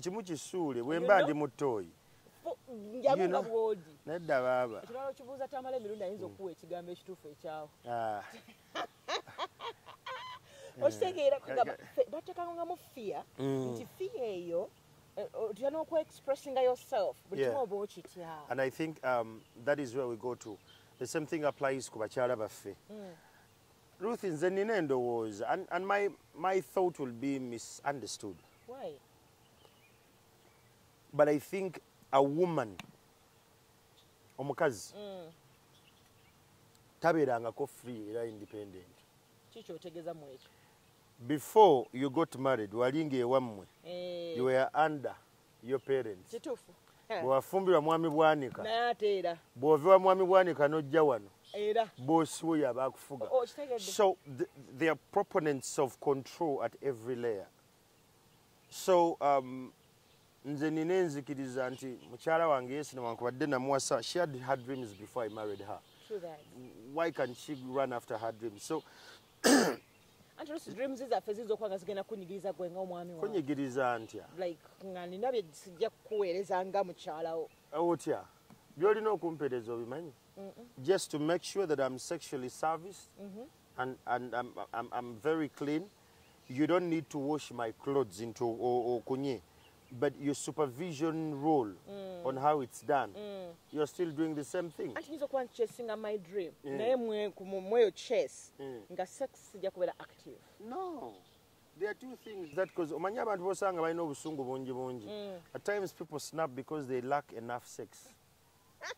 kimu kisuule bwemba ndi mutoyi njabuka bwogi nedda baaba ekirala okibuuza tamala emirundi ayinza mm. okuwa ekigambo ekituufu ekyawo ah. okitegeera bateekanga nga mu fiya mm. nti fiya eyo eh, otya n'okuexpressinga yourself buli kimu oba okitya and i think um, that is where we go to the same thing applies ku bakyala baffe mm. ruth nze nina endowooza and, and my, my thought will be misunderstood mm. Why? But I think a woman omukazi mm. tabeerangako free era independent. Kiki otegeza mu ekyo? Before you got married wali ng'ewammwe hey. Eh. you were under your parents. Kituufu. Eh. Bwewafumbirwa mwami Bwanika. Naye ate era. Bw'ova wa mwami Bwanika n'ojja wano. era bosi wo yaba akufuga oh, so the, the proponents of control at every layer so um, nze nina enzikiriza nti mukyala wange yesi newankubadde namuwasa she had her dreams before i married her why can she run after her dreams so anti olusi dreams zaffe ziyinza okuba nga zigenda kunyigiriza gwe nga omwami wa kunyigiriza ntya like nga nina bye sijja kukuweereza nga mukyalawo otya byolina okumpereza obimanyi just to make sure that i'm sexually serviced mm -hmm. and, and I'm, I'm, I'm very clean you don't need to wash my clothes into okunye oh, oh, but your supervision role mm. on how it's done mm. you're still doing the same thing anti nyiza okuba nchesinga my dream mm. naye mweyo chess mm. nga sex sija kubeera active no there are two things that because omanyi abantu bosanga balina obusungu bungi bungi mm. at times people snap because they lack enough sex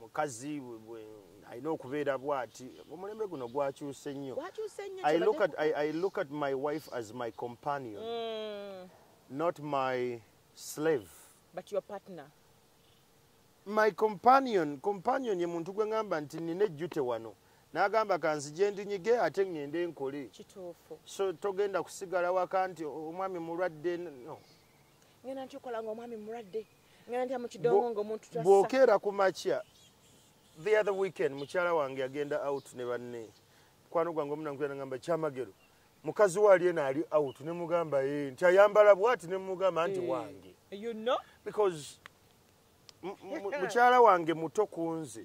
mukazi alina okubeera bwati omulembe guno gwakyuse nnyo i look at my wife as my companion mm. not my slave but your partner my companion companion ye muntu gwe ngamba nti nina ejjute wano nagamba kanzi gyendinyige ate ŋŋende nkole kituufu so togenda kusigala waka nti omwami mulwadde no ŋenda nkikola nga omwami mulwadde bwokeera ku makya the other weekend mukyala wange yagenda out ne banne mukwano gwange omunankuyanagamba kyamagero mukazi we ali ena ali out ne mugamba e nti ayambala bwati ne mugamba nti eh, wange because mukyala wange muto ku nze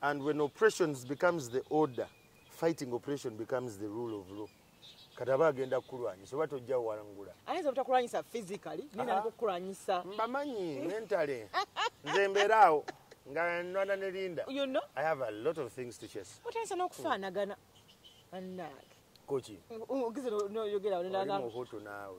and when operations becomes the order fighting operation becomes the rule of law kati aba agenda kukulwanyisa oba tojja wangula ayinza obutakulwanyisa physically nina nakukulwanyisa mbamanyi mentale nze mbeeraawo nga nwana ne linda you know? i have a lot of things to chase otayinza n'okufaanagana annaage koki ogize noyogera omuhutu naawe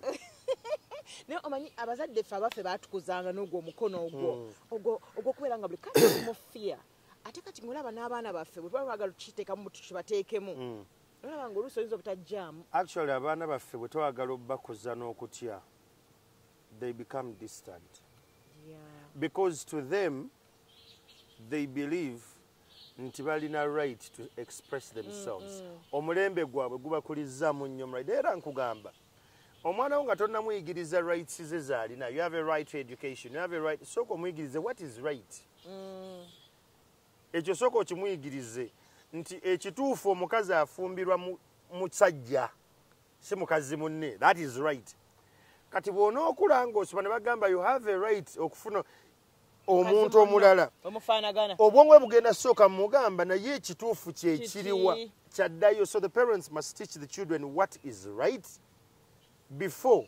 naye omanyi abazadde ffe abaffe batukuzanga n'ogwo omukono ogwo hmm. ogwo ogwokubeera nga buli kati mufia ate kati ngaolaba n'abaana baffe bwe tuba twagala tukiteekamu tukibateekemu hmm. olaba nga oluusi oyinza obutajjaamu actually abaana baffe bwe twagala obubakuza n'okutya they become distant yeah. because to them they believe nti balina right to express themselves mm, mm. omulembe gwabwe gubakulizaamu nnyo mulaide era nkugamba omwana wo nga tonnamuyigiriza rights ze zaalina you have a right to education you have a right sooka omuyigirize what is right mm. ekyo sooka okimuyigirize nti ekituufu omukazi afumbirwa musajja si mukazi munne that is right kati bw'onookula ng'osoba ne bagamba you have a right okufuna omuntu omulala obwongo bwe bugenda sooka mugamba naye ekituufu kyekiriwa kyaddayo so the parents must teach the children what is right before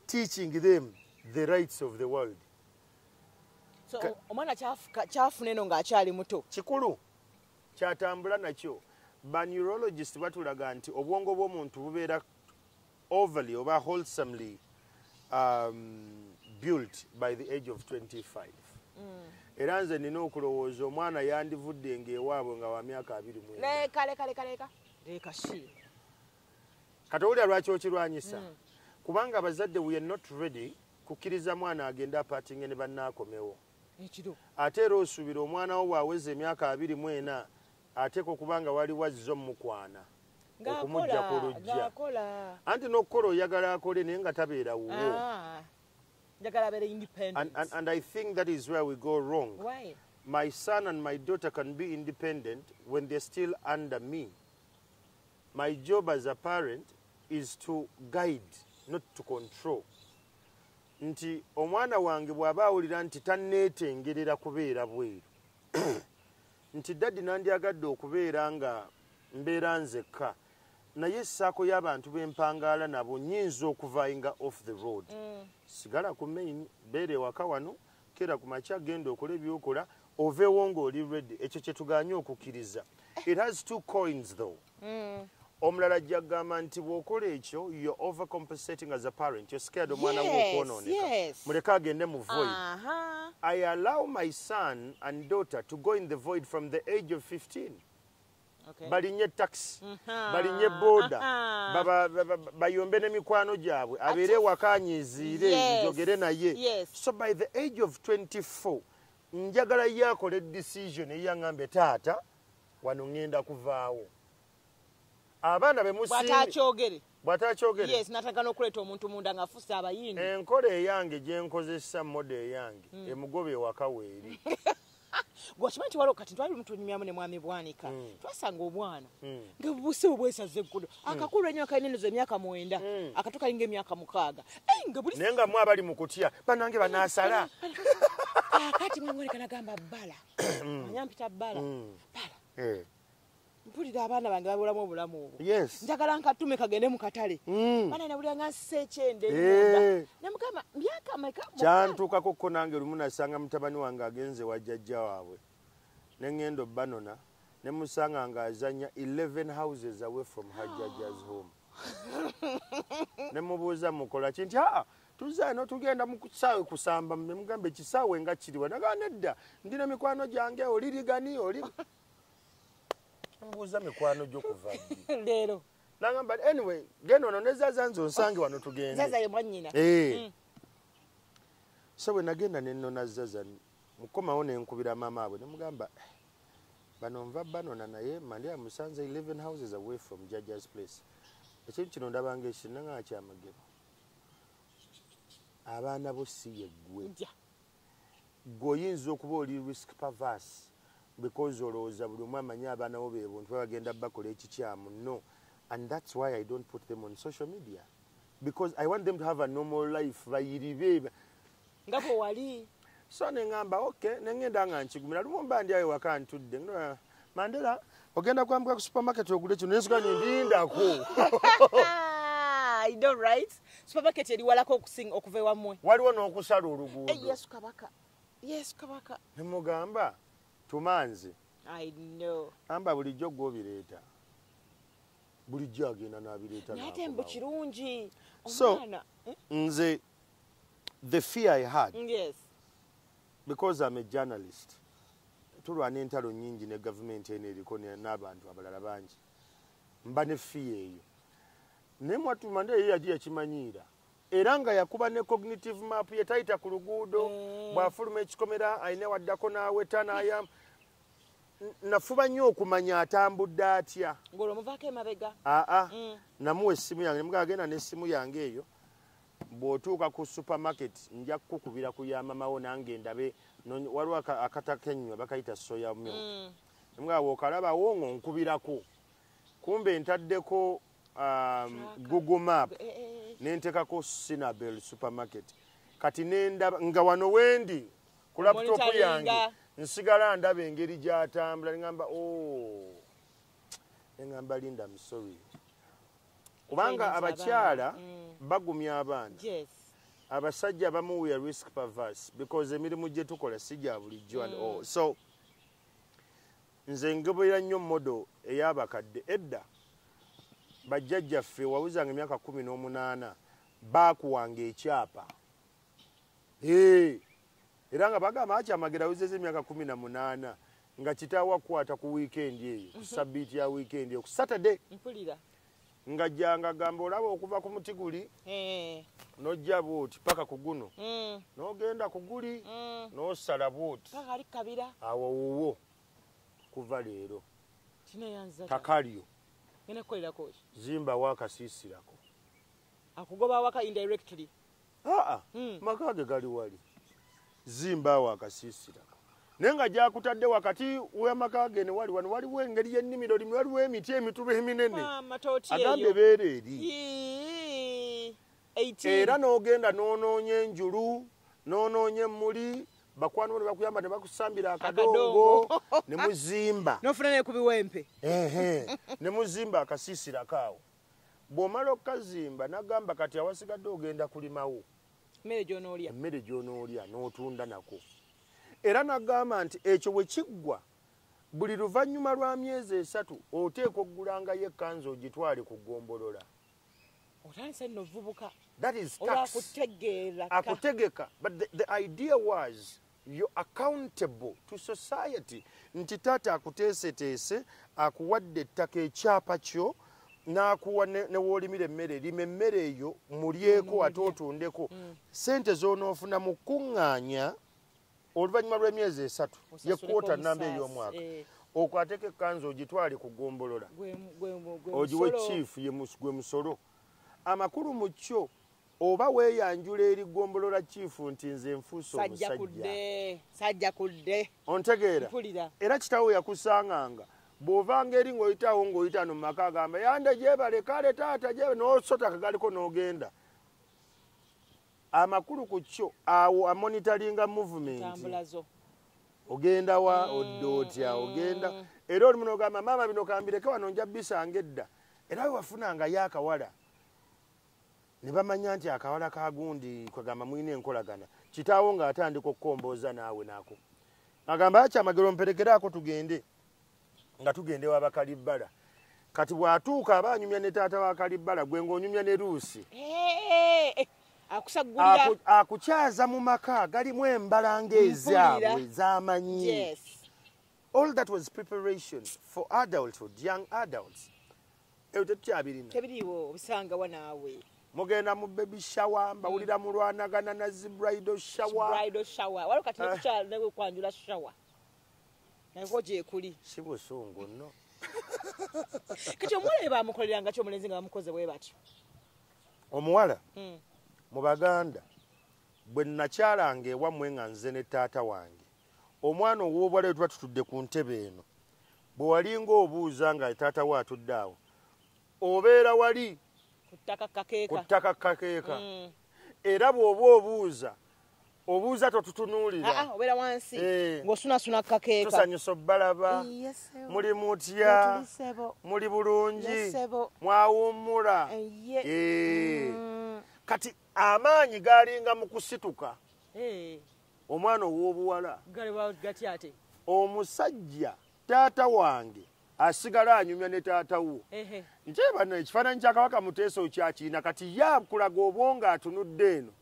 teaching them the rights of the world omwana kyafuna eno ng'akyali muto kikulu kyatambula nakyo baneurologist batulaga nti obwongo bw'omuntu bubeera overly oba wholesomely um, built by the age of 25 mm. era nze nina okulowooza omwana yandivudde ngaewaabwe nga wa myaka abiri mwekalekalekaleka leka shi kati owulira lwaki okirwanyisa mm. kubanga abazadde we are not ready kukkiriza mwana agende apatinge ne bannaakomewo ate era osuubira omwana wo bw'aweza emyaka abiri mu ena ateeka okuba nga waliwo azze omukwana okumujja ku lujja anti n'okukola oyagala akole naye nga tabeera wuwo ah, and i think that is where we go wrong Why? my son and my daughter can be independent when they're still under me my job as a parent is to guide not to control nti omwana wange bw'aba awulira nti tanneetengerera kubeera bweru nti daddy nandyagadde okubeera nga mbeera nzekka naye saako y'abantu bempangaala nabo nyinza okuvainga off the road mm. sigala ku main beera ewaka wano kera ku makya genda okola ebyokola oveewo ngaoli redi ekyo kyetuganye okukkiriza it has two coins though mm. omulala ajja kugamba nti bw'okola ekyo yo overcompensating as a parent yo scared omwana wo okwonooneka muleke agende mu void i allow my son and daughter to go in the void from the age of 15 balinye taxi balinye boda bayombe ne mikwano gyabwe abeere wakanyiziire njogere naye so by the age of 24 njagala ye akole decision eyaŋambe taata wano ngenda kuvaawo abaana bemusinbwatakyogere bwatakyogere yes nataka nokuleeta omuntu munda nga afuuse abayindi enkola eyange gyenkozesa moda eyange mm. emugoba ewaka weeri gwakimanyi nti waliwo kati twali mutunyumyamu ne mwami bwanika mm. twasanga obwana mm. nga buse obwesaza eggulo mm. akakulu enyo akainenoza emyaka mwenda mm. akatu kalinga emyaka mukaaga naye nga mwe abali mu kutya banange banasala kakati mwemwoneka nagamba bala mm. manya mpita bbala mm. bbala eh. mpulira abaana bange babulamu obulamu obwo njagala nkatume kagende mu katale mm. bana nabulira nga nsisa ekyende eh. ne mukama myaka meka kyantuukako ko nange lumu nasanga mutabani wange agenze wa jajja waabwe ne ŋŋenda obbanona ne musanga nga azanya 11 houses away from her jajja's home ne mubuuza mukola ki nti aa ah, tuza eno tugenda mu kisaawe kusamba ne mugamba ekisaawe nga kiriwa nagaa nedda ndi ne mikwano gyange olirigani oli mbuuza mikwano gyo kuva leero nagamba anyway genda ono nezaza nze onsange wano tugendezaza ye mwanyina eh. mm. so bwe nagenda nenona zaza mukomawo nenkubira maama abwe nemugamba eh, bano nva banona naye mali amusanze 11 houses away from judges place ekintu kino ndabanga ekintu nanga kyamagero abaana bo si yeggwe gwe oyinza okuba oli risk pavas because olowooza buli omu amanyi abaana bo bebuntu babagenda bakola ekikyamu no and thats why i don't put them on social media because i want them to have a normal life bayiribe nga bwe wali so ne ŋŋamba oke ne ŋŋenda nga nkigumira lumu mba ndi ayo waka ntudde mandela ogenda kwambuka ku supermarket ogule kino nensuka ni ndindako ido right supermarket eri walako okusinga okuva ewammwe waliwo n'okusala oluguudo eh, yesu kabaka yesu kabaka ne mugamba tumanzi i know amba bulijjo gwe obireeta bulijjo agenda n'abireeta naye ate mbu kirungi omwana so, eh? nze the fear i had yes. because am a journalist tulwana entalo nyingi ne gavumenti eno eriko n'abantu abalala bangi mba ne fiya eyo naye mwatumande eyo yaji yakimanyiira era nga yakuba ne cognitive map yetayita ku luguudo mm. bwafuluma ekikomera ayina waddako naweta nayam nafuba nnyo okumanya atambudde atya aa mm. namuwa essimu yange nemugagenda n'essimu yange eyo bw'otuuka ku supermarket nja kukukubira ku ya mama wo nange ndabe waliwo akatakenywa bakayita soya mil mm. nga bw'okalabawo ng'onkubirako kumbe ntaddeko um, google map eh, eh, eh. nentekako sinabel supermarket kati nendaba nga wano wendi ku laputopu yange nsigala ndaba engeri gyatambula neamba o oh. neamba linda msory kubanga abakyala mm. bagumya abaana abasajja abamu we are risk perverse because emirimu gye tukola si gya bulijjo and all mm. so nze ngebera nnyo modo ey'abakadde edda bajjajjaffe wawuzanga emyaka kumi n'omunaana baakuwanga ekyapa era nga bagamba akyamagera awuzeza emyaka kumi na munaana nga kitaawo akukwata ku wiikendi eyo ku mhm. sabbiiti ya wiikendi eyo ku saturday mpulira nga janga gamba olaba okuva ku muti guli eh. nojja bwoti paka ku guno mm. nogenda ku guli mm. nosala bwoti awo wuwo kuva leero takalyo zimbawo akasiisirako akugoba waka indirectly aa hmm. maka ge gali wali zimbaawo akasiisira naye nga gyakutadde wakati wamaka ge ne wali wano waliwo engeri y'ennimiro limu waliwo emiti emitulu eminene agambye beera eri era n'ogenda n'onoonya enjulu n'onoonya emmuli bakwano bano bakuyamba ne bakusambira akadongo ne muzimba nofuna ne kubiwempe ne muzimba akasiisira kaawo bw'omala okukazimba nagamba kati awasigadde ogenda kulimawo emmere gy'onoolya emmere gy'onoolya n'otunda nako era nagamba nti ekyo bwe kiggwa buli luvannyuma lwa myezi esatu oteeka okugulangayo ekkanzi ogitwale ku ggombolola otandise nno ovubuka akutegeka but the, the idea was You're accountable to society nti taata akuteeseteese akuwadde ettaka ekyapa kyo n'akuwa newoolimira emmere lima emmere eyo mulyeko ate otundeko mm. sente z'onoofuna mu kukuŋŋaanya oluvannyuma lw'emyezi esatu yekwota namba ey'omwaka eh. okwateko ekkanza ogitwale ku gombolola ogiwe chief gwe musolo amakulu mu kyo oba weyanjula eri gombolola kiifu nti nze nfuuse omusajjasajja kudde ontegeera era kitawo yakusanganga bwovanga eri ngaoyitawo ngaoyita no mumaka agamba yande gyebale kale taata gyebe nosota kagaliko nogenda amakulu ku kyo awo amonitaringa movement ogenda wa mm, odda otya mm. ogenda era oli muno ogamba maama bino kambireke wano nja bisanga edda era wewafunangayo akawala ne bamanya nti akawala ka gundi kwegamba mulina enkolagana kitaawo ng'atandika okukombooza naawe naako agamba akyamagero mperekeraako tugende nga tugende wa bakalibbala kati bw'atuuka aba anyumya ne taata wa kalibbala gwe ng'onyumya ne luusi akukyaza mu maka galimu embalanga ezaabwe zamanyi all that was preparation for adulthood young adults eyo tetukyabirina tebiriwo obisanga wa naawe mugenda mu baby shower mbawulira mm. mulwanagana na zi bridal shower bridal shower waliwo kati eh. nekukyalo nawe kwanjula shower nayeko gyekuli si busungu no kati omuwala ye bamukoleranga ki omulenzi nga bamukoze bwe batyo omuwala mm. mu baganda bwe nakyalanga ewammwe nga nze ne taata wange omwana ow'obwala wetuba tutudde ku ntebe eno bwe walinga obuuza nga taata we atudde awo obeera wali ku ttaka kakeeka mm. era bw'oba obuuza obuuza totutunuulira ah, ah, obeera wansi eh. ng'osunasuna kakeeka tusanyusa obbalaba muli mutya muli bulungi mwawummula eh, eh. mm. kati amaanyi galinga mu kusituka omwana ow'obuwala omusajja taata wange asigala anyumya ne taata wo nti bano ekifaananyi kya kabaka muteesa okyakiina kati ye akulaga obwongo atunudde eno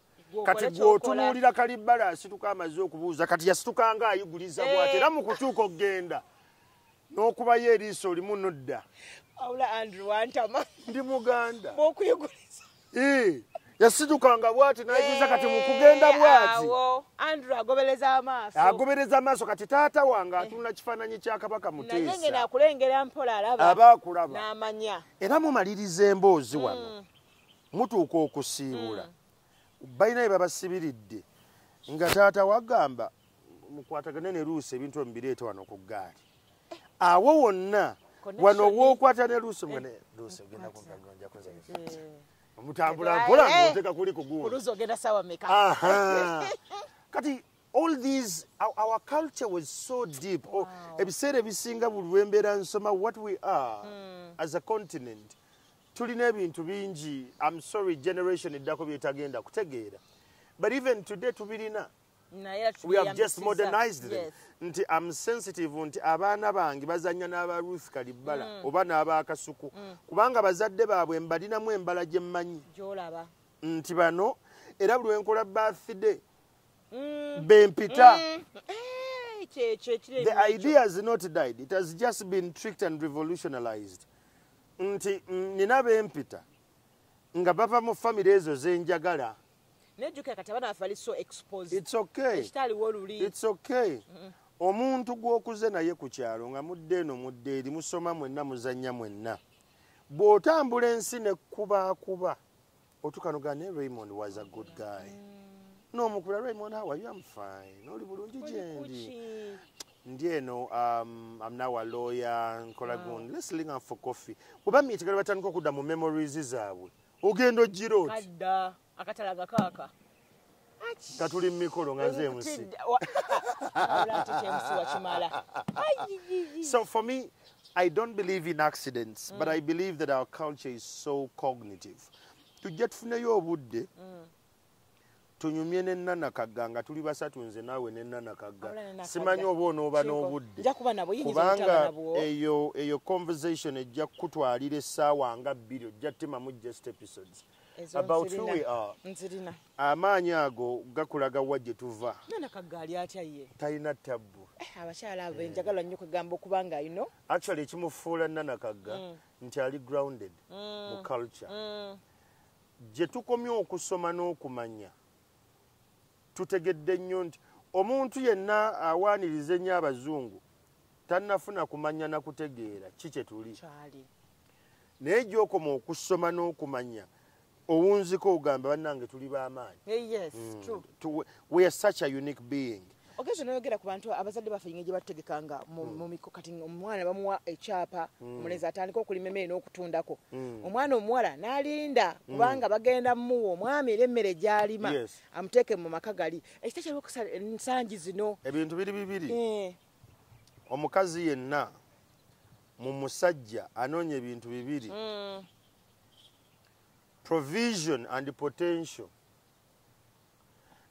kati gweotunuulira kalibbala asituka amaze okubuuza kati yasitukanga ayiguliza bwati eh. era mu kutuuka okugenda n'okubayo eriiso olimu nodda awula andrew wantama ndi muganda bwokuyiguriza yasidukanga bwati nayigiza kati mukugenda eh, bwati andrew agobereza amaaso agobereza amaaso kati taata wange eh. atunda kifaananyi kya kabaka muteesa akulengera mpola alaba aba akulaba n'amanya era mumaliriza emboozi mm. wano mutuuka okusiibula mm. balina bye babasibiridde nga taata wagamba mukwatagane ne luusi ebintu emubireeta wano ku ggaali awo wonna wano wookwata ne luusi eh. mune luusi ogenda kunjakuza eh. mutambula eh. mpola ngoteka kuli kuguulusi ogenda sawa meka kati all these our, our culture was so deep oh, ebiseera wow. ebisinga buli lwembeera nsoma what we are mm. as a continent tulina ebintu bingi am sorry generation eddako byetagenda kutegeera but even today tubirina we have just modernized them yes. nti am sensitive nti abaana bange bazanya n'aba ruth kalibbala mm. oba n'abaakasuku mm. kubanga bazadde baabwe mbalinamu embala gye mmanyi gyolaba nti bano era buli wenkola birthday mm. bempita mm. eh, the idea has not died it has just been tricked and revolutionalized nti mm, nina bempita nga bava mu famire ezo zenjagala naye jukira kati abaana baffe bali so exposed it's okay ekitaliwo oluli it's okay mm -mm. omuntu gwokuze naye ku kyalo nga mudde eno mudde eri musoma mwenna muzannya mwenna bw'otambula ensi nekubaakuba otukanuga ne raymond was a good guy mm. n'omukula raymond how are you am fine oli bulungi gyendi ndi eno um, am now a lawyer nkola gundi let's link up for coffee oba miitigala batandika okudda mu memories zaabwe ogenda ogirooti akatalaga kaaka nga tuli mu mikolo nga nze emusi so for me i don't believe in accidents mm. but i believe that our culture is so cognitive tujja tufuneyo obudde mm. tunyumye ne nana kagga nga tuli basatu nze naawe ne nana kagga simanyi oba onooba n'obudde kubanga eyo eyo conversation ejja kukutwalira essaawa nga bbiri ojja timamu just episodes about who we are amaanyi ago gakulaga wa gye tuva talina tabbu eh, abakyala abo enjagala nnyo kwegamba okubanga ino actually ekimufuula nana kagga mm. nti ali grounded mm. mu culture mm. gye tukomye okusoma n'okumanya tutegedde nnyo nti omuntu yenna awaaniriza ennyo abazungu tannafuna kumanya na kutegeera ki kye tuli naye gyokoma okusoma n'okumanya owunzika ogamba bannange tuli b'amaanyi eh, mm. ogezi noyogera ku bantu abazadde baffe yinga gye batutegekanga mu hmm. miko kati omwana bamuwa ekyapa hmm. omulenzi atandika okulima emmere n'okutundako hmm. omwana omuwala n'alinda kubanga bagenda mumuwa omwami era emmere gy'alima amuteeke mu maka gali ekita kyalukusa ensangi zino ebintu biri bibiri eh. omukazi yenna mu musajja anoonya ebintu bibiri provision and potential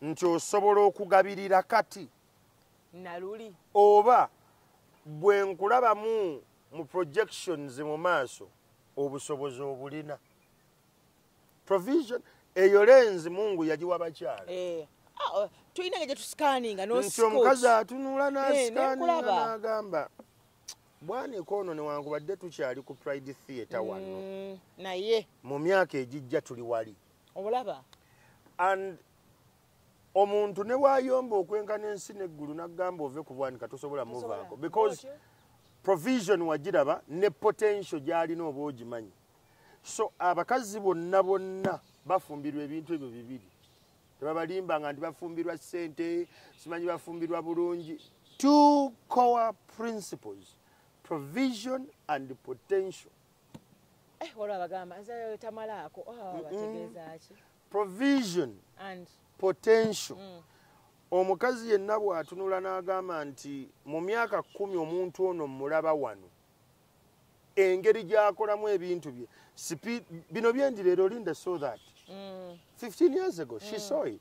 nti osobola okugabirira kati naluli oba bwe nkulabamu mu projections mu maaso obusobozi obulina provision eyo lenzi mungu yagiwa bakyala eh, ah, oh, tulina nga gyetusikaninga nti omukazi atunula eh, nasikaninga nagamba bwanika ono newankubadde tukyali ku pride theatre wano mm, naye mu myaka egijja tuli wali obulaba and omuntu ne wayomba okwenkana ensi neggulu nagamba ove ku bwanika tosobola muvaako because provision wagiraba ne potential gyalina oba ogimanyi so abakazi bonna bonna bafumbirwa ebintu ebyo bibiri tebabalimba nga nti bafumbirwa sente simanyi bafumbirwa bulungi two core principles provision and potential eh wala bagamba nze tamala ako ah bategeza ki provision and potential mm. omukazi yenna bw'atunula n'agamba nti mu myaka kkumi omuntu ono mmulaba wano engeri gy'akolamu ebintu bye bino byendi leero linda so that 15 mm. years ago she mm. saw it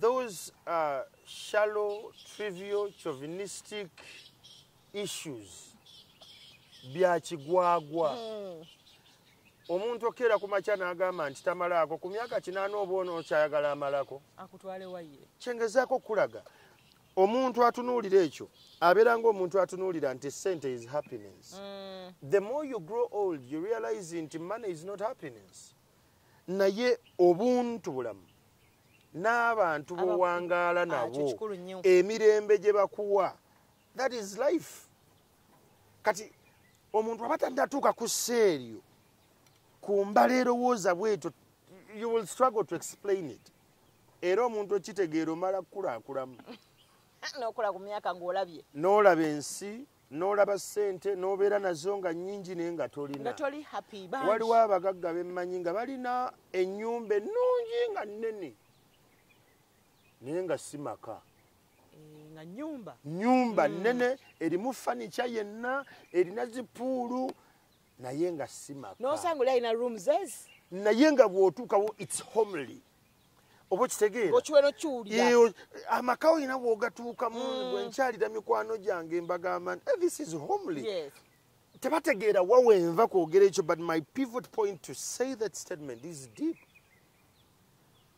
Those uh, shallow, trivial, chauvinistic issues bya kigwagwa mm. omuntu okeera ku makya n'agamba nti tamalaako ku myaka kinaana oba ono okyayagala amalako kyengezaako okukulaga omuntu atunuulira ekyo abeera ngaomuntu atunuulira nti sente is happiness mm. the more you grow old you realize nti money is not happiness naye obuntu bulamu n'abantu bowangaala ah, nabo emirembe gye bakuwa that is life kati omuntu aba tadatuuka ku seeryo ku mbala erowooza bwetyo you will struggle to explain it era omuntu okitegeera omala kukulakulamu nokula ku myaka ngaolabye nolaba ensi n'olaba ssente n'obeera nazo nga nnyingi naye nga tolina waliwo abagagga bemmanyi nga balina ennyumba ennungi nga nnene naye nga si maka eh, nyumba mm. nnene erimu fanica yenna erina zipuulu naye nga si maka naye nga bw'otuukawo its homely oba okitegeera amaka olina wogatuukamu mm. bwenkyalira mikwano gyange embagamba eh, this is homely yes. tebategeera wawenva kwogera ekyo but my pivot point to say that statement is deep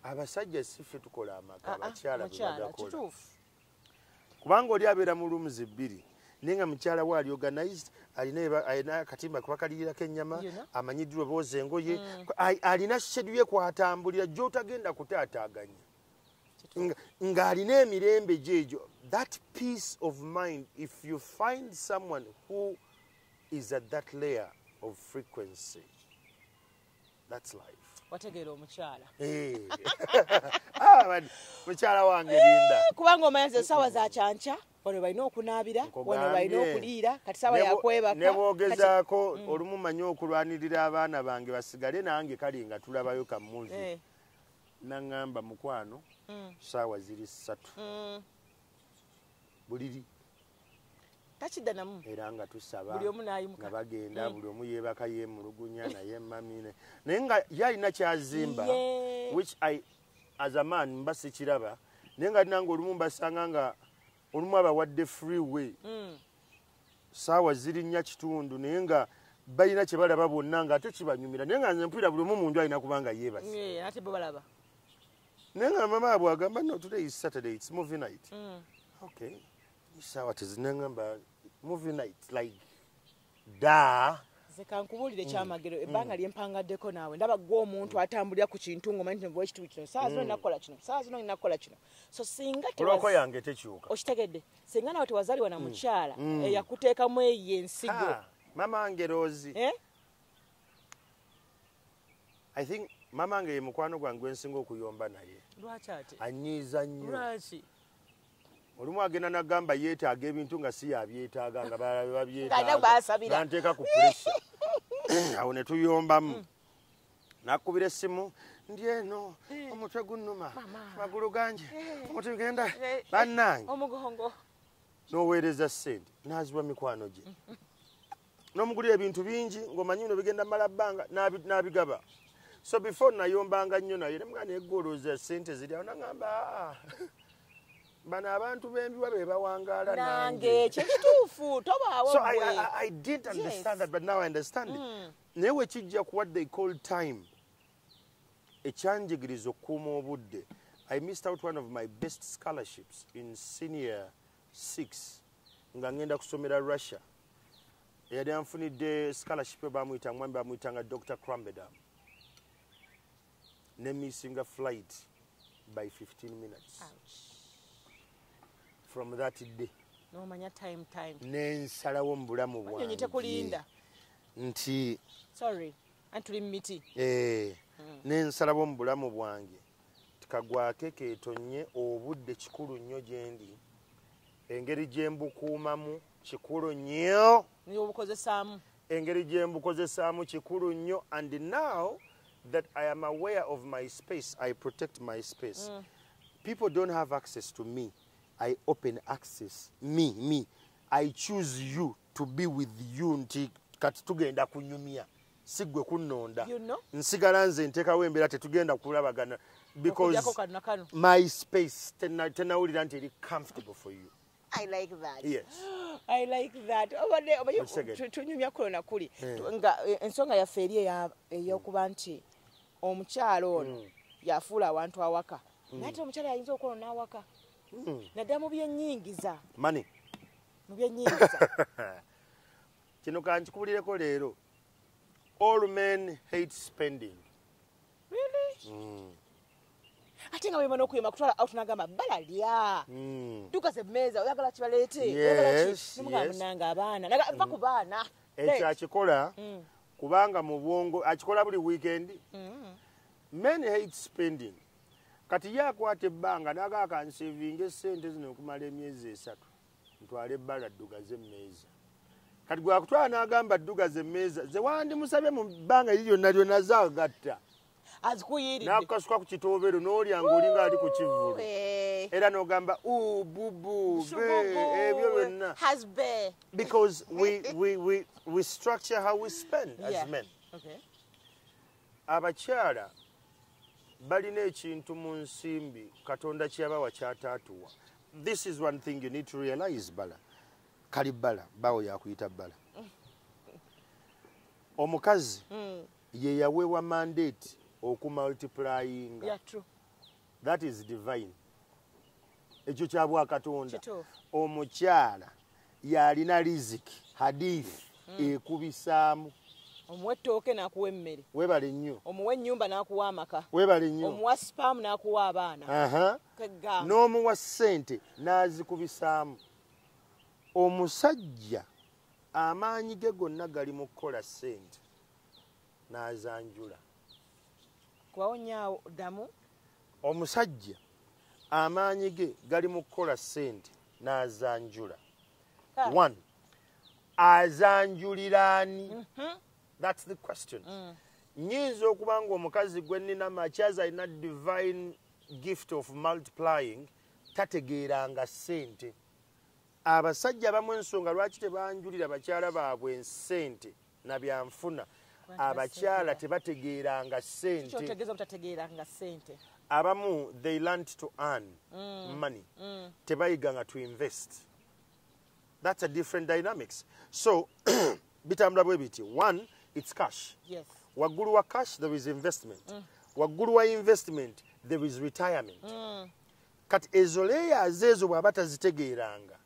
abasajja siffe tukola amaka ah, ah, bakyala bebagakola kubanga oli abeera mu rooms ebbiri naye nga mukyala we ali organized alina akatimba kuba kaliyirako ennyama amanyiddwa obooza engoye mm. alina shedu ye kwatambulira gyotagenda kutaataaganya ng'alina emirembe gyegyo that peace of mind if you find someone who is at that layer of frequency That's life. wategeera omukyala eh. ah, mukyala wange linda eh, kubanga omanyaza esaawa za kyankya wano balina okunaabira wano balina okuliira kati saawa yakwebaka nebwogezaako mm. olumu manyi okulwanirira abaana bange basigale nange kale nga tulabayo kamuvi eh. naŋamba mukwano mm. saawa ziri ssatu mm. buliri takidanamu era nga tusaba buli omu nayimuka bagenda mm. buli omu yebaka yemulugunya naye mamine naye nga yalina kyazimba which i as a man mba sikiraba naye nga nange olumu mbasanga nga olumu abawadde free way mm. saawa zirinnya kitundu naye nga balina kyebalaba bonna nga ate kibanyumira naye nga nze mpulira buli omu munju alina kubanga yebasi naye nga mama abwe agamba no today is saturday its movie night mm. okay isaawa tezinengamba movie night like da kankubuulire mm. kyamagero mm. ebbanga lyempangaddeko naawe ndaba gwe omuntu atambulira ku kintu ngoma nti nva ekitundu kino saa zino nakukola kino saa zino nakukola kino so singa kuloko yange tekyuka okitegedde singa nawe tewazaliwa na mukyala eyakuteekamu eyo ensigo mama ngeroozi eh? I think mama nge ye mukwano gwange gwensinga okuyomba naye anyiiza nnyo olumu agenda nagamba yeetaaga ebintu nga si yabyetaaga nga balala babyetaganteeka ku pressure awo ne tuyombamu mm. nakubira essimu ndi eno eh. omutwe gunnuma magulu ganje eh. omuti genda eh. bannange noweereza ssente naziwa mikwano gye nomugulira ebintu bingi ngaomanyi bino bigenda mala bbanga n'abigaba so before nayombanga nnyo naye nemga negoloza sente ziri awo nagamba aa bano abantu bembiwa bebawangaala nange kyekituufu tobaawo so I, I, I didn't understand yes. that but now I understand it mm. naye wekijja ku what they call time ekyanjigiriza okukuuma obudde i missed out one of my best scholarships in senior 6 nga ngenda kusomera russia eyali anfunidde scholarship bamuyita mwami bamuyitanga dr crambedam ne missinga flight by 15 minutes Ouch. from that day nomanya time time nensalawo mu bulamu bwange tekulinda nti sorry antuli miti eh hmm. nensalawo mu bulamu bwange kagwake ketonye obudde kikulu nnyo gyendi engeri gyembukuumamu kikulu nnyo obukozesaamu engeri gyembukozesaamu kikulu nnyo and now that i am aware of my space i protect my space mm. people don't have access to me i open access me me i choose you to be with you nti kati tugenda kunyumya sigwe kunonda you know? nsigala nze ntekawo embeera tetugenda kulabagana because my space tenawulira nti eri comfortable for you I like that. Yes. I like that. Obade obaye tunyumya kulo na kuli. Eh. Nga eh, ensonga ya ferie ya eh, yokuba nti omukyalo ono mm. yafuula abantu awaka. Mm. Nate omukyalo ayinza okwona awaka. Mm. Nadamu bye nyingiza. Money. mu byennyingiza kino kankikubulireko leero all men hate spending really? mm. ate nga wemana okuyema kutwala out nagamba bala lya mm. duka ze meza oyagala kibaleete munanga abaana va ku baana ekyo akikola mm. kubanga mu bwongo akikola buli weekend mm. men hate spending kati ye akwata ebbanga naga akansevinga esente zino okumala emyezi esatu ntwala ebbala ddugaza emmeeza kati gwakutwala n'agamba ddugaza emmeeza ze wandimusabye mu bbanga eri lyonna lyonna zagatta nakukasuka ku kitoobero n'olya ngaolinga ali ku kivulu era n'ogamba ububu ebyo byonna because we, we, we, we structure how we spend as yeah. men okay. abakyala balina ekintu mu nsimbi katonda kyeyabawa kyataatuwa this is one thing you need to realize bala kali bala bawo yakuyita bala omukazi mm. ye yaweebwa mandate okumultiplyinga yeah, that is divine ekyo kya bwakatonda omukyala yalina riziki hadith mm. ekubisaamu omuwa ettooke n'akuwa emmere webale nnyo omuwa ennyumba n'akuwa amaka webale nnyo omuwa sipaamu n'akuwa abaana n'omuwa ssente n'azikubisaamu omusajja amaanyi ge gonna gali mu kukola ssente n'azanjula kuwawonyaawo ddamu omusajja amaanyi ge gali mu kukola ssente n'azanjula one azanjulira ani mhm. thats the question mm. nyinza okuba nga omukazi gwe nnina makyaz alina divine gift of multiplying tategeeranga ssente abasajja abamu ensonga lwaki tebanjulira bakyala baabwe ensente na byanfuna abakyala tebategeeranga sente abamu they learnt to earn mm. money mm. tebayiga nga to invest that's a different dynamics so bitambula bwe biti one it's cash yes. waggulu wa cash there is investment mm. waggulu wa investment there is retirement mm. kati ezo leyaze ezo bwaba tazitegeeranga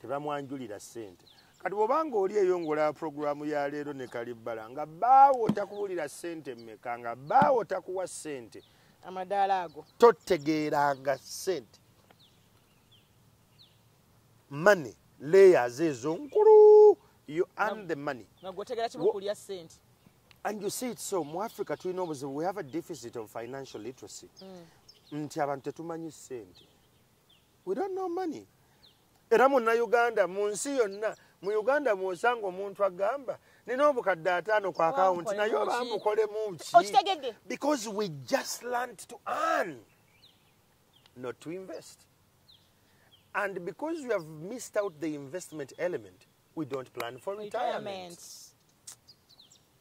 tebamwanjulira sente kati bwobanga oli eyo ngaolaba puroguramu ya leero ne kalibbala nga baawo takuwulira sente mmeka nga baawo takuwa sente amadaala ago totegeeranga sente mone leyaze ezo nkulu you earn the money and you see it so mu africa tulina obuzibu we have a deficit of financial literacy mm. nti abantu tetumanyi sente we don't know money era muna uganda mu nsi yonna mu uganda mwosanga omuntu agamba nina obukadde ataano ku akawunti naye oba mukolemu ki because we just learnt to earn not to invest and because we have missed out the investment element we don't plan for retirement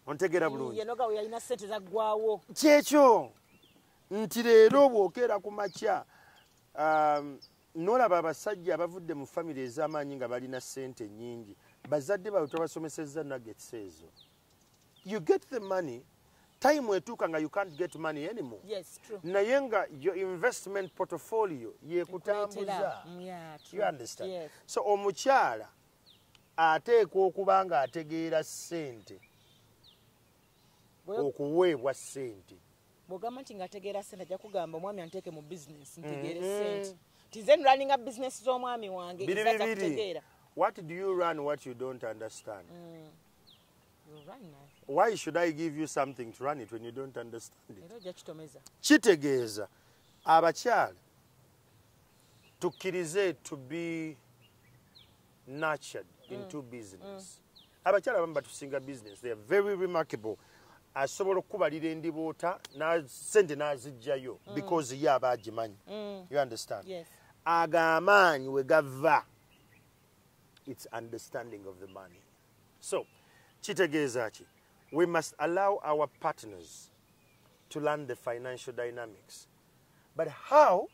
ontegera bulungi yenoga we yalina sente za gwawo kyekyo nti leero bwokera ku makya um, nolaba abasajja abavudde mu family ez'amaanyi nga balina sente nyingi bazadde bawe tobasomesezza nuggets ezo you get the money time etuuka nga you can't get money anymore yes, true. naye nga your investment portfolio yekutambuza mm, yeah, you understand yes. so omukyala ateekwa okuba nga ategeera sente okuweebwa sente bwogamba nti ngaategeera sente ajja kugamba omwami anteeke mu business ntegeere mm-hmm. sente tize nraninga business z'omwami wange biri bibiri what do you run what you don't understand mm. why should i give you something to run it when you don't understand it kitegeeza abakyala tukkirize to be nurtured mm. into business mm. abakyala abamu batusinga business they are very remarkable asobola okukubalira endiboota sente n'azijjayo mm. because ye aba agimanyi mm. you understand yes. ago amaanyi we gava its understanding of the money so kitegeeza ki we must allow our partners to learn the financial dynamics but how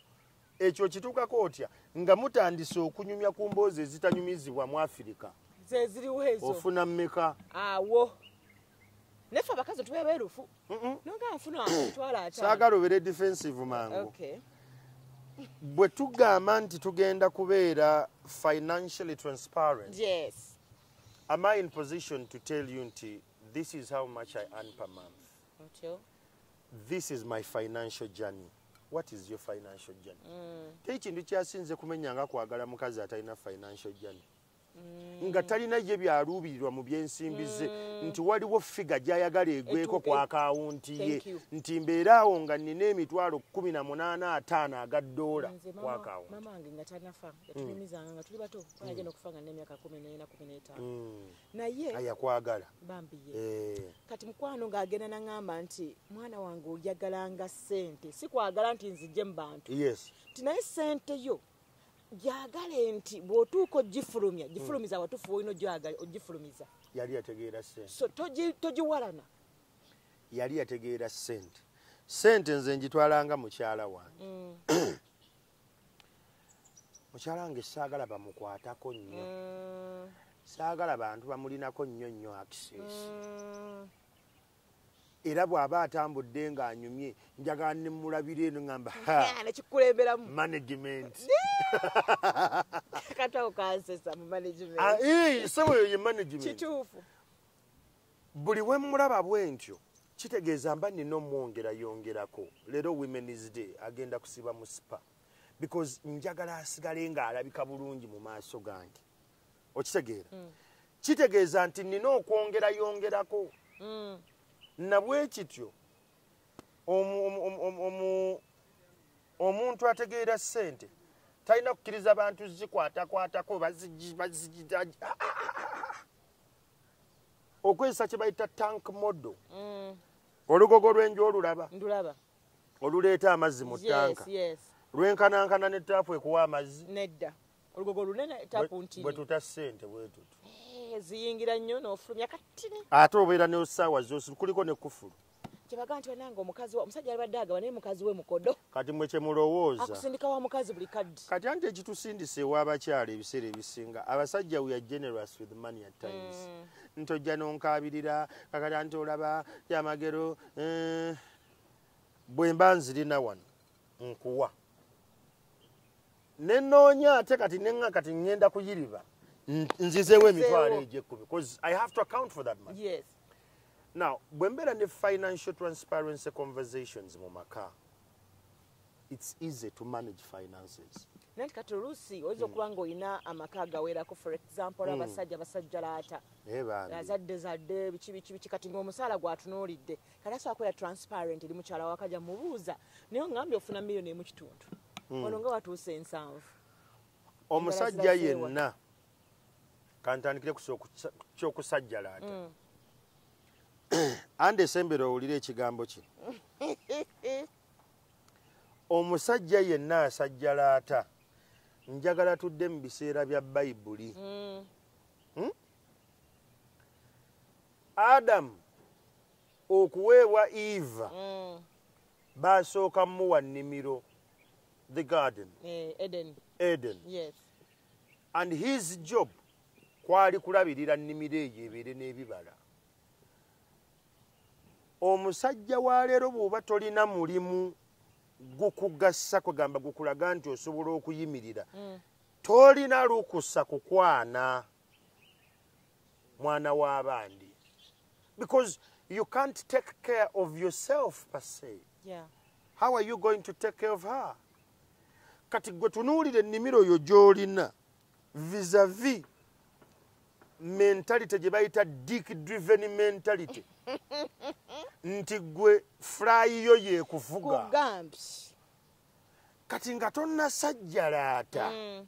ekyo kituukako otya nga mutandise okunyumya ku mboozi ezitanyumizibwa mu afirika ofuna mmeka awo Nefe abakazi tuwe berufu. Mhm. Nonga afuna twala ata. Sagalo bere defensive mangu. Okay. Bwe tugamba nti tugenda kubeera financially transparent. Yes. Am I in position to tell you nti this is how much I earn per month? Until? This is my financial journey. what is your financial journey mm. tekintu kyasinze kumenya nga kwagala mukazi atalina financial journey mm. nga talina ye byaluubirirwa mu byensimbi ze mm. nti waliwo figa gyayagala egweko ku akawunti ye nti mbeera awo nga nina emitwalo kumi na munaana ataano aga doola ku akawunti ayakwagala eh. kati mukwano ng'agenda naŋamba nti mwana wange oyagalanga sente sikwagala nti nzije mu bantu nti naye sente yo gyagale nti bwotuuka ogifulumya hmm. gifulumiza mm. watufu olina ogyagale ogifulumiza yali yategeera sente so togiwalana yali yategeera sente sente nze njitwalanga mukyala wange mm. mukyala wange saagala bamukwatako nnyo mm. saagala bantu bamulinako nnyo nnyo access mm. era bw'aba atambudde ng'anyumye njagala ne mulabira eno ngamba nekikulemberamu management katawo kansesa mu management ah, eh, sebo yo ye management kituufu buli we mulaba bwentyo kitegeeza mba nina omwongera yongerako leero women's day agenda kusiba mu sipa because njagala asigale ng'alabika bulungi mu maaso gange okitegeera mm. kitegeeza nti nina okwongera yongerako mm. nabwekityo omuntu ategeera sente talina kukiriza bantu zikwatakwatako okwezesa kyebayita tank modo mm. olugogo lwenju olulaba oluleeta amazzi mu tanka lwenkanankana ne taapu ekuwa amazzi olugogo lunene tapu ntini bwetuta sente bwetutu eh, ziyingira nnyo n'ofulumya katini ate obeera ne saawa zosi kuliko ne kufulu kyebaga nti banange omukazi omusajja alibadde agaba naye mukazi we mukodo kati mwe kyemulowooza akusindika wa mukazi buli kaddi kati anti ekitusindisa ew'abakyala ebiseera ebisinga abasajja we are generous with money at times mm. nti ojja nonkaabirira kakati anti olaba yamagero eh. bwe mba nzirina wano nkuwa nenoonya ate kati nena kati ŋŋenda kuyiriba nzizeewo emitwalo egyekkumi bcause i have to account for that money yes. now bwe mbeera ne financial transparency conversations mu maka it's easy to manage finances nanti kati oluusi oyinza hmm. okuba nga olina amaka agawerako for example hmm. abasajja basajja laata eh, azadde zadde biki biki biki kati ngaomusaala gwatunuulidde kati asobola kubeera transparent eri mukyala wakaja mubuuza naye ongambye ofuna miliyoni emu kitundu hmm. ono nga watuusa ensanvu omusajja yenna kantandikire kyokusajjala ate hmm. ande esembera owulire ekigambo kino omusajja yenna asajjalaata njagala tudde mu biseera bya bayibuli hmm. adamu okuweebwa eva mm. basooka muwa nnimiro the garden eh, eden, eden. Yes. and his job kwali kulabirira nnimiro eyo ebeere n'ebibala omusajja wa leero bw'oba tolina mulimu gukugassa kwegamba gukulaga nti osobola okuyimirira mm. tolina lukusa kukwana mwana w'abandi because you can't take care of yourself per se yeah. how are you going to take care of her kati gwe tunuulira ennimiro oyo gy'olina visavi mentality gye bayita dick driven mentality nti gwe fulayi yo yekuvuga kati nga tonasajjalaata mm.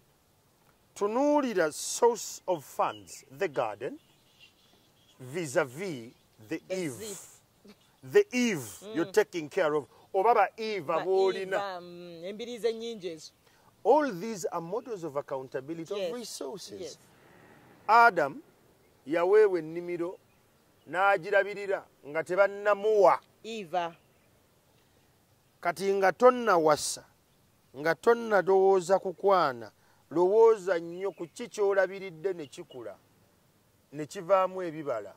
tunuulira source of funds the garden vis-a-vis the eve the eve mm. you're taking care of oba ba eve aboolina mm, embiriizi ennyingi ezo all these are models of accountability yes. of resources yes. adam yaweebwa ennimiro n'agirabirira nga tebannamuwa eva kati nga tonnawasa nga tonnalowooza kukwana lowooza nnyo ku ki kyolabiridde ne kikula ne kivaamu ebibala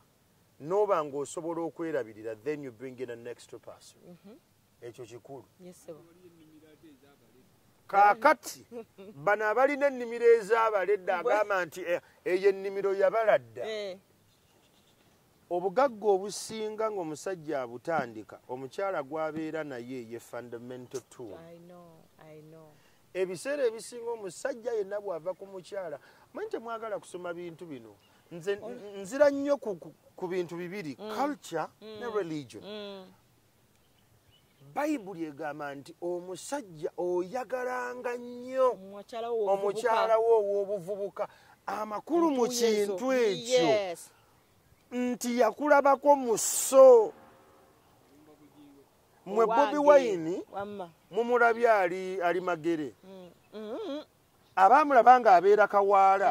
noba ngaosobola okwerabirira then you bring in a next person mhm. ekyo kikulu kakati bano abalina ennimiro ez'abaledda agamba nti eh, eyo ennimiro yabaladda eh. obugagga obusinga ngaomusajja abutandika omukyala gwabeera naye ye fundamental tool ebiseera ebisinga omusajja yenna bwava ku mukyala manyi temwagala kusoma bintu bino nze nzira nnyo ku bintu bibiri mm. culture ne mm. religion mm. bayibuli egamba nti omusajja oyagalanga nnyo omukyala wo ow'obuvubuka amakulu mu kintu ekyo nti yakulabako mu so mwe bobi wayini mumulaby ali ali magere mm, mm, mm. abaamulaba nga abeera kawaala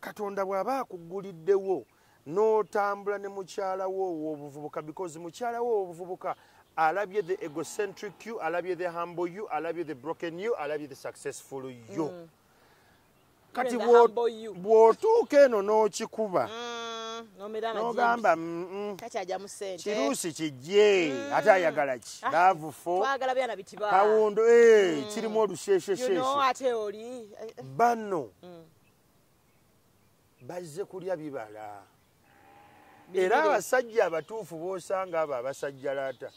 katonda bw'aba akugguliddewo n'otambula ne mukyala wo ow'obuvubuka because mukyala wo ow'obuvubuka alabye the egocentric you alabye the humble you alabye the broken you alabye the successful you mm. kati bw'otuuka eno n'okikuba mm, nogamba mm, mm. kiruusi kijje ate ayagala ki ah, laavu fo kawundo eh, kirimu olusheshesheshe eh, eh. banno mm. bazze kulya bibala era abasajja abatuufu bosanga abo abasajja laata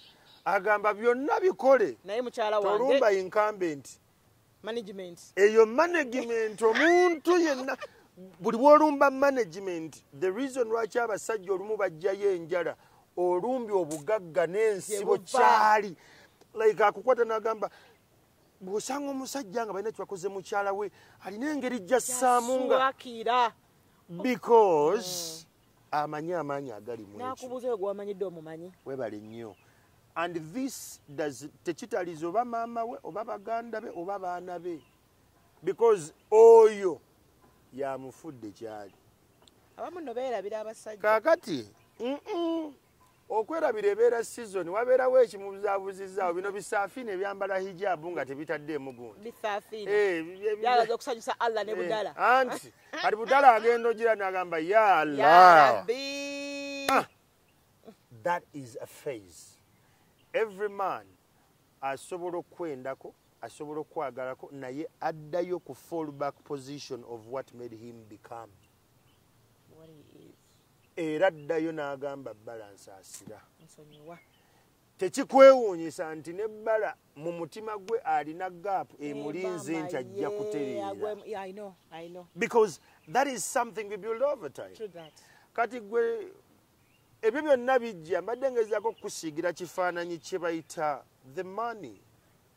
agamba byonna bikole tolumba incumbenti management eyo management omuntu yenna buli bwolumba management the reason lwaki abasajja olumu bajjayo enjala olumbye obugagga n'ensibo kyali like akukwata nagamba bw'osanga omusajja nga balina kyebakoze mukyala we alina engeri jassaamu ngaakira because mm. amanyi amaanyi agali munakubuuza oyo gwewamanyidde omumanyi webale nnyo and this does tekitaliza oba maama we oba baganda be oba baana be because oyo yamufudde kyali abamu no beerabira abasajja kakati okwerabira ebeera sizoni wabeerawo ekimubuzabuzizaawo bino bisafiina ebyambala hijabu nga tebitaddeemu gundianti kati budala agenda ogira nagamba ya allah ah, that is a phase every man asobola okukwendako asobola okukwagalako naye addayo ku fall back position of what made him become era addayo n'agamba bbala nsaasira tekikwewuunyisa nti ne bbala mu mutima gwe alina gaapu eh, emulinze nti ajja kutereera kati gwe ebyo byonna bijja mbadde ngezaako okukusiigira kifaananyi kye bayita the money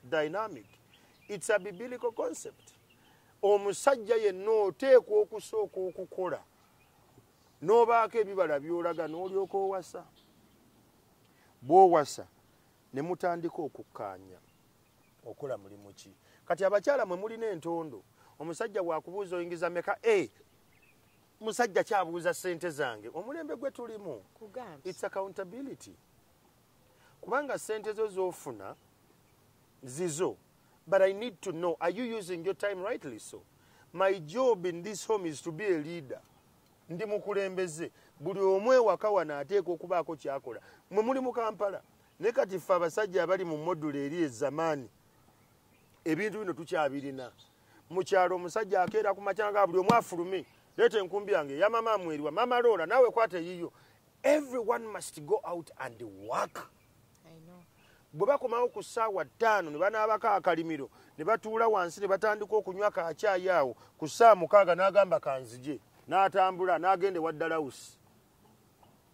dynamic its a biblical concept omusajja yenna oteekwa okusooka okukola n'obaako ebibala byolaga n'olyoka owasa bwowasa ne mutandika okukkaanya okola mulimu ki kati abakyala mwe mulina entondo omusajja bwakubuuza oyingiza meka a eh, musajja kyabuuza sente zange omulembe gwe tulimu its accountability kubanga sente zo zofuna zizo but i need to know are you using your time rightly so my job in this home is to be a leader ndi mukulembeze buli omu ewaka wano ateeka okubaako kyakola mwe muli mu kampala ne kati ffe abasajja abali mu modula eri ezamaani ebintu bino tukyabirina mu kyalo omusajja akeera ku makyanga buli omu afulume leeta enkumbi yange yamama amweriwa mama loola naawe kwata eyiyo everyone must go out and work bwe bakomawo ku ssaawa ttaano ne banaabako akalimiro ne batuula wansi ne batandika okunywa kakyayi awo ku ssaawa mukaaga n'agamba kanzije n'atambula n'agenda ewa dalawusi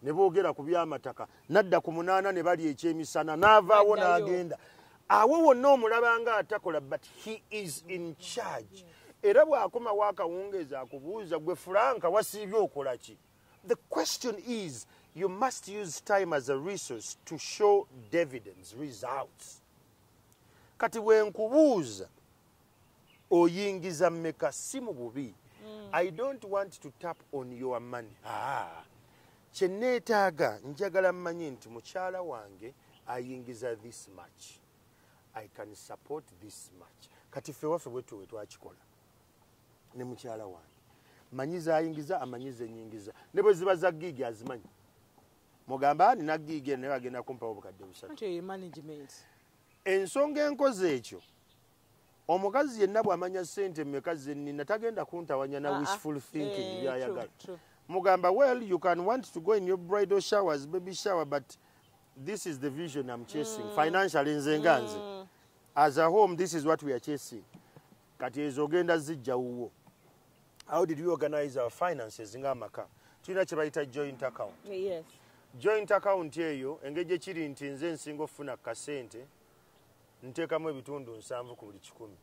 ne boogera ku byamataka nadda ku munaana ne bali ekyemisana n'avaawo n'agenda awo wonna omulaba nga atakola but he is in charge era bw'akomawo akawungeezi akubuuza gwe fulanka wasiibye okola ki The question is you must use time as a resource to show dividends results kati wenkubuuza oyingiza meka si mu bubi mm. i don't want to tap on your money ah. kyeneetaaga njagala mmanyi nti mukyala wange ayingiza this much i can support this much kati ffe waffe bwetuwe twakikola ne mukyala wange manyi zayingiza amanyi zenyingiza ne bwe ziba za giigi azimanyi mugamba ani nagiigi eno naye agenda kumpawo obukadde busatu ensonga enkozi ekyo omukazi yenna bwamanya sente mumeka zenina tagenda kuntawanya na ah, ah. wishful thinking eh, byayagala mugamba well you can want to go in your bridal showers baby shower but this is the vision i'm chasing mm. financially nze nga nze mm. as a home this is what we are chasing kati ezo ogenda zijja wuwo how did we organize our finances nga amaka tulina kyebayita joint account yes. joint account eyo engeri gyekiri nti nze nsinga okufuna kasente nteekamu ebitundu nsanvu ku buli kikumi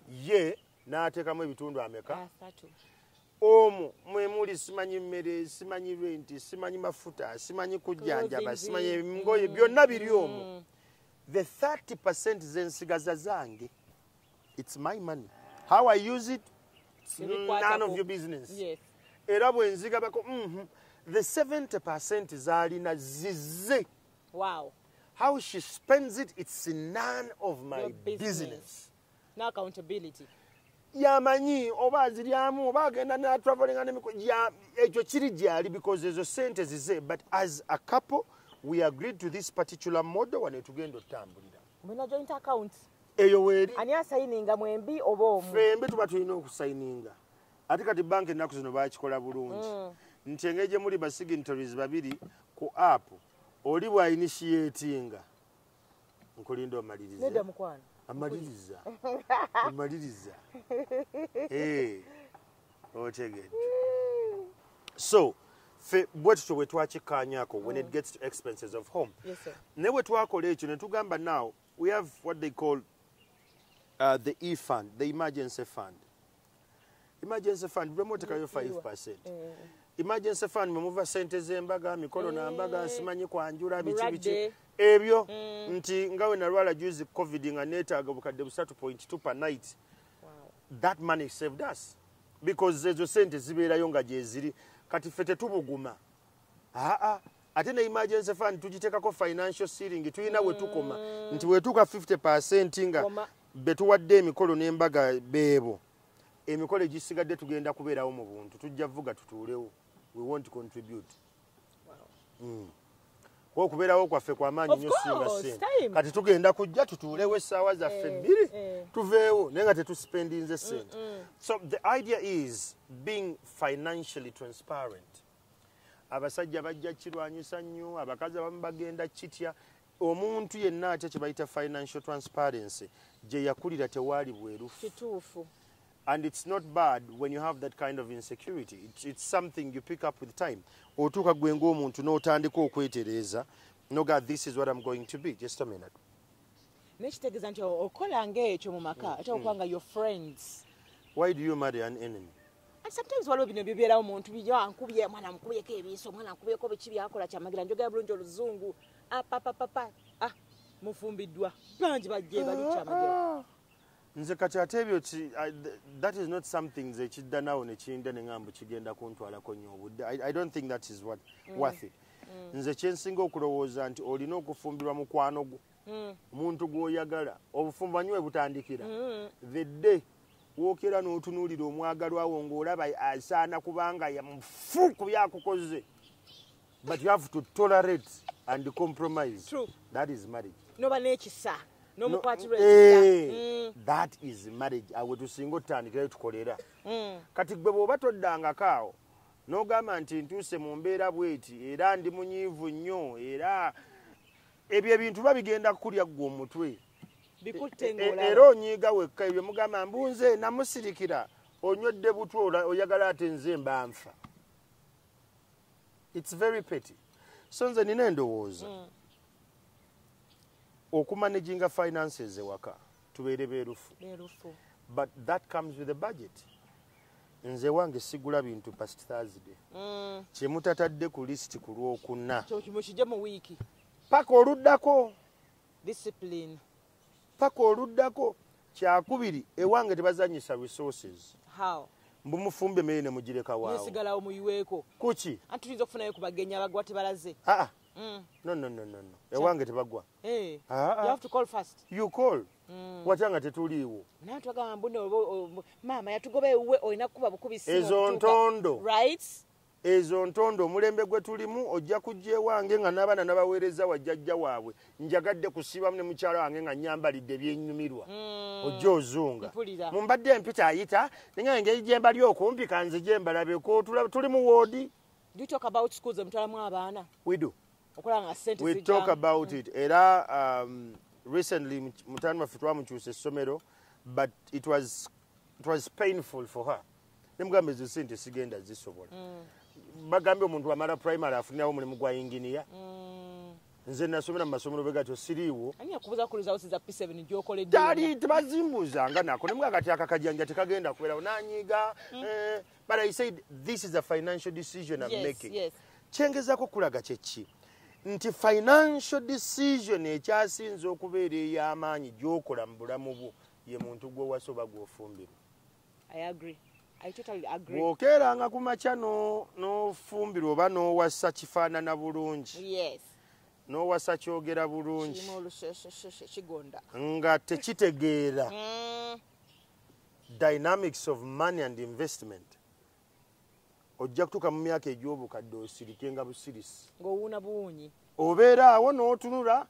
ye n'ateekamu ebitundu ameka omu mwemuli simanyi mmere simanyi renti simanyi mafuta simanyi kujjanjaba simanyi ngoye byonna biri omu mm. the 30 percent zensigaza zange it's my money how i use it none of your business yes. era bwenzigabako mm -hmm. the 70 percent zalina zize wow. how she spends it it's none of my your business, business. no accountability yamanyi oba aziryamu oba agenda natravelinga nemiko ekyo kiri gyali because ezo sente zize but as a couple we agreed to this particular model wanetugenda otutambuliramu mulina joint account eyo weri ani asayininga mwembi oba omu fembi tuba tulina okusayininga ate kati banka ennaku zino bakikola bulungi mm. nti engeri gye muli basignatories babiri ku app oli bwa initiatinga nkulinda omalirize amaliriza amaliriza eh. otegedde so fe bwe tutyo bwe twakikkaanyako when it mm. gets to expenses of home naye bwe twakola ekyo ne tugamba now we have what they call uh, the e fund the emergency fund emergency fund bwemotekayo 5 percent mm. emergency fund mwe muva sente z'embaga mikolo na mbaga mm. nsimanyi kwanjula biki biki ebyo nti nga we nalwala juzi covid nga neetaaga bukadde busatu point two per night that money saved us because ezo sente zibeerayo nga gyeziri kati ffe tetubuguma aa ate ne emergency fund tugitekako financial sealing tulina wetukoma mm. nti wetuuka 50 percent nga betuwadde emikolo n'embaga beebo emikolo egisigadde tugenda kubeerawo mu buntu tujja vuga tutuulewo we won't contribute hmm. okubeerawo kwaffe kwamaanyi nyo singa sente kati tugenda kujja tutuulewo essaawa zaffe eh, bbiri eh. tuveewo naye nga tetuspendinze sente so the idea is being financially transparent abasajja bajja kirwanyisa nnyo abakazi abamu bagenda kitya omuntu yenna atya kye bayita financial transparency gye yakulira tewaali bwerufu kituufu and it's not bad when you have that kind of insecurity it's, it's something you pick up with time otuuka gwe ng'omuntu n'otandika okwetereeza noga this is what i'm going to be just a minute nekitegeeza nti okola ngaekyo mu maka mm, ate okuba mm. nga your friends why do you marry an enemy and sometimes waliwo bino bibeerawo muntu biankubye ah, mwana nkubyeko ebiiso mwana nkubyeko biki byakola kyamagira njogera bulungi oluzungu apapapapa ah, ah, mufumbiddwa bangi bajje bali kyamagira ah, nze kati ate ebyo that is not something nze kidda nawo nekiyinda neŋambu kigenda kuntwalako nnyo obudde i don't think that is what mm. worth it mm. nze kyensinga okulowooza nti olina okufumbirwa mukwano gwo mm. omuntu gwoyagala obufumbo anyiwe butandikira mm. the day wokera notunuulira omwagalwawo ngaolaba asaana kubanga mufu kubyakukoze but you have to tolerate and compromise True. that is marriage noba nekisa nomukwatirwa no, eh, mm. that is marriage awe tusinga otandikirayo tukolera mm. kati gwe bwoba toddangako awo nogamba nti ntuuse mu mbeera bweti era ndi munyiivu nnyo era ebyo ebintu ba bigenda kukulya ggwe omutwe e, e, era onyiiga wekka ebyo mugamba mbunze namusirikira onywedde butwa oyagala ate nze mbanfa its very petty so nze nina endowooza mm. okumanaginga finances ewaka tubeere beerufu but that comes with a budget nze wange sigula bintu past thursday mm. kyemutatadde ku list ku lwokuna paka oluddako discipline paka oluddako kyakubiri ewange tebazanyisa resources how mbu mufumbe emere nemugireka wasigalawo muyiweeko kuki anti tuyinza okufunayo kubagenya bagwa tebalaze aa mm. no no no no no ewange tebagwa eh. you have to call first you call mm. watya nga tetuliiwo naye twagamba mbu maama yatugoba ewuwe olina kukuba bukubi ezo ntondo rights ezo ntondo omulembe gwe tulimu ojja kujja ewange nga n'abaana nabaweereza wajjajja waabwe njagadde kusiibamu ne mukyalo wange nga nyambalidde byenyumirwa hmm. ojja ozunga mu mbadde empita ayita ninga engeri gye mbali okumpi kanze gye mbalabeko tuli mu woodi era um, recently mutani waffe twamukyusa essomero but it was, it was painful for her nemugamba ezo sente sigenda zisobola mm. bagambye omuntu amala primary afunirawo omulimu gwa inginiya mm. nze nasomera mumasomero begatyo siriiwo tali tebazimbuza nga nako nemwe akati akakajanja tekagenda kuberawo nanyiga mm. eh, but i said this is a financial decision am making kyengezako kulaga kyeki nti financial decision ekyasinza okubeera ey'amaanyi gyokola mu bulamu bwo ye muntu gwowasoba gwofumbirwa I agree. I totally agree. Bwokeeranga ku makya n'ofumbirwa oba n'owasa kifaanana bulungi. Yes. N'owasa kyogera bulungi. Kigonda. Nga tekitegeera. Mm. Dynamics of money and investment. ojja kutuuka mu myaka egy'obukadde osirike nga busirisi ng'owuuna buwuunyi obeera awo n'otunula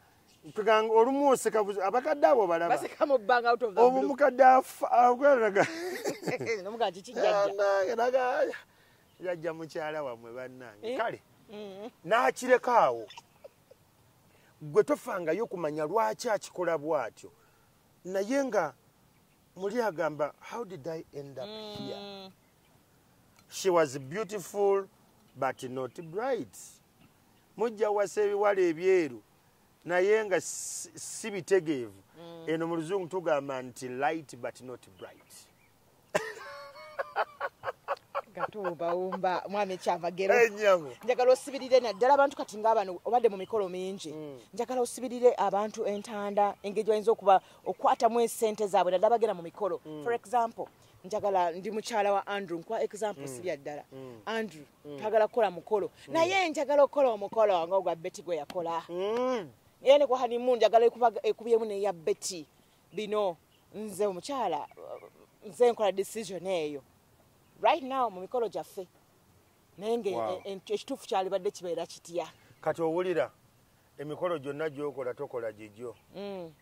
tuganga olumu oseka abakadde abo balabaobu mukadde agweraga yajja mukyala wamwe bannange eh? kale mm. n'akireka awo gwe tofangayo kumanya lwaki akikola bw'atyo naye nga muli agamba how did i end up here mm. she was beautiful but not bright mujja wasa ebiwala ebyeru naye nga si bitegeevu mm. eno mu luzungu tugamba nti light but not bright gatuwumbawumba mwami ekyamagero eh, njagala osibirire naddala abantu kati ngaabano obadde mu mikolo mingi mm. njagala osibirire abantu entanda engeri bayinza okuba okwatamu esente zaabwe naddala bagenda mu mikolo mm. for example njagala ndi mukyala wa andrew nkwa example mm. sibya ddala mm. andrew mm. twagala kukola mukolo mm. naye njagala okukola omukolo nga ogwa beti gwe yakola mm. era ne kwahanimu njagala ekubyemu neya beti bino nze omukyala nze nkola decision eyo right now mu mikolo gyaffe naye nga wow. E, e, ekituufu kyalibadde kibeera kitya kati owulira emikolo gyonna gyokola tokola gigyo mm.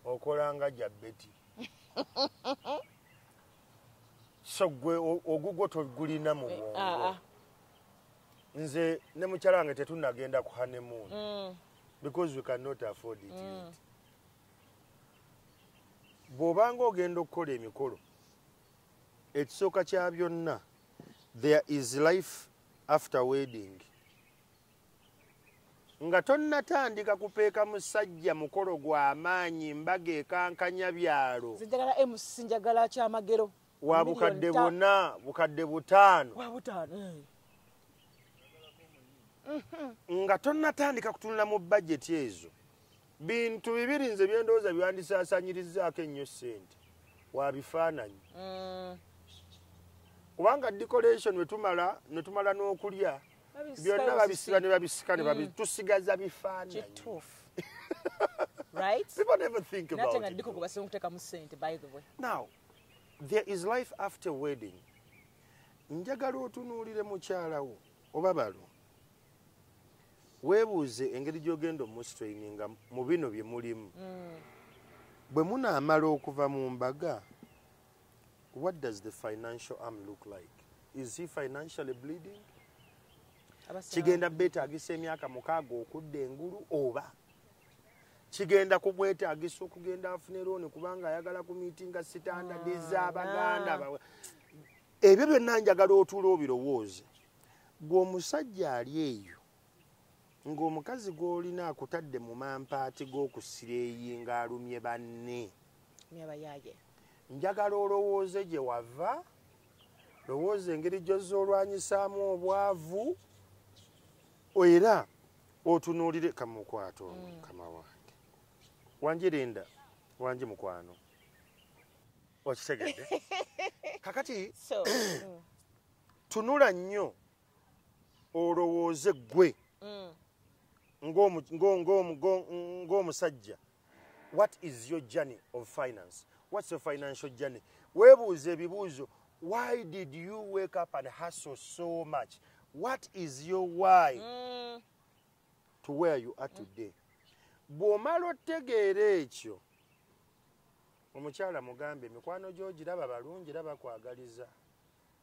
okola nga ja beti so gwe ogugwo togulina mu bwongo ah, ah. nze ne mukyala wange tetunagenda ku honeymoon mm. because we cannot afford it mm. bw'obanga ogenda okukola emikolo ekisooka kya byonna there is life after wedding nga tonnatandika kupeeka musajja mukolo gwa maanyi mbaga ekankanya byalo wa bukadde buna bukadde butaano eh. mm-hmm. nga tonnatandika kutunula mu bajeti ezo bintu bibiri nze byendowooza byandisaasanyirizzaako ennyo ssente wa bifaananyi mm. kubanga decoration wetumala netumala n'okulya byonna babisiba ne babisika ne babi mm. tusigaza bifaananyi kituufu right people never think about it natenga kuba singa kuteka mu sente by the way now there is life after wedding njagala otunuulire mukyala wo oba balo weebuuze engeri gy'ogenda omustraininga mu bino bye mulimu mm. bwe munaamala okuva mu mbaga what does the financial arm look like is he financially bleeding kigenda beetagisa emyaka mukaaga okudda engulu oba kigenda kumwetagisa okugenda afune looni kubanga ayagala ku miitinga sitandadi ah, z'abaganda bawe ebyo byonna njagala otuula obirowooze gwe omusajja ali eyo ng'omukazi gw'olina akutadde mu mampaati g'okusira eyi ng'alumye banne njagala olowooze gye wava lowooza engeri gyozza olwanyisaamu obwavu era otunuulire kamukwata ono mm. mukama wange wanje linda wanje mukwano okitegedde kakati mm. tunula nnyo olowooze gwe mm. ng'omusajja what is your journey of finance what's your financial journey webuuza ebibuuzo why did you wake up and hustle so much what is your why mm. to where you are today bw'omala otegeera ekyo omukyala mugambe emikwano gyogiraba balungi era bakwagaliza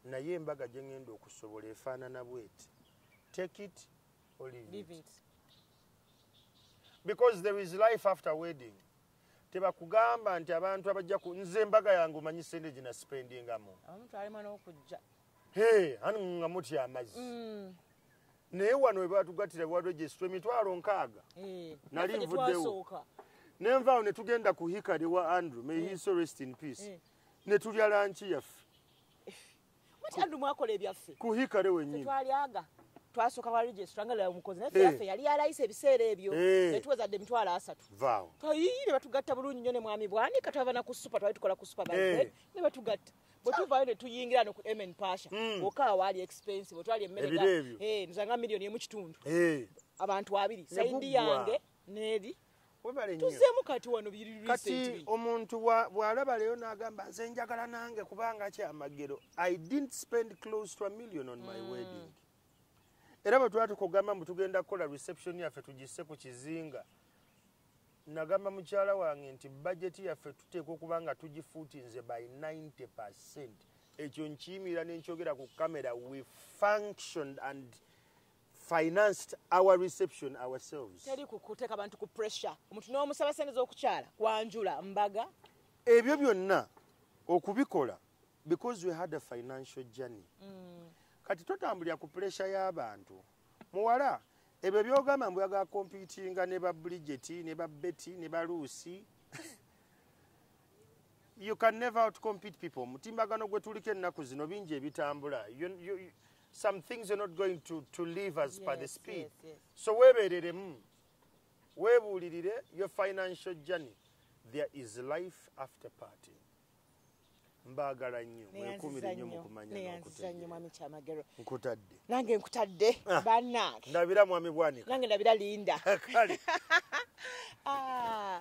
naye embaga gye ŋŋenda okusobola efaanana bweti take it or leave it. it because there is life after wedding tebakugamba nti abantu abajja ku nze embaga yange omanyi sente gina spendingamu ani nga mutya amazzi mm. naye wano webatugatira waregistr emitwalo nkaaga eh, nali nvuddewo nenvaawo netugenda ku hikari wa andrew may his eh. rest in peace eh. ne tulya lanki yaffe andu mwakola ebyaffe kuhikale wenyini twalyaga twasooka wa registra nga lala omukozi naye yaffe eh. yali yalayisa ebiseera ebyo eh. netuwezadde emitwalo asatu twayiyi ne batugatta bulungi nyo ne mwami bwanika twava na ku supa twali tukola ku supa eh. ne batugatta bwetuvayo netuyingira no ku mn pasha hmm. oka awaali expense bwetwali emmereebyo nzanga miliyoni emu kitundu abantu abiri saidi yange neeri tuzemu kati wano kati omuntu bwalaba leero nagamba nze njagala nange kubanga kyamagero i didn't spend close to a million on my mm. wedding era bwe twali tukugamba mbu tugenda kukola reception yaffe tugisse ku kizinga nagamba mukyala wange nti bajeti yaffe tuteekwa okuba nga tugifuutinze by 90 percent ekyo nkiyimirira nenkyogera ku kamera we functioned and financed our reception ourselves teri kukuteka bantu ku pressure omuntu n'omusaba sente z'okukyala kwanjula mbaga ebyo byonna okubikola because we had a financial journey mm. kati totambulira ku pressure y'abantu muwala ebyo byogamba mbu yaga computinga ne ba bridget ne ba betty ne ba lucy you can never out compete people mutimbagano gwe tuliko ennaku zino bingi ebitambula some things are not going to, to leave us yes, by the speed yes, yes. so webereremu webuulirire your financial journey there is life after party mbaagala nnyo mwekumire nnyo mukumanya nkutadde nange nkutadde ah. banange ndabira mwami bwanika nange ndabira linda kale ah.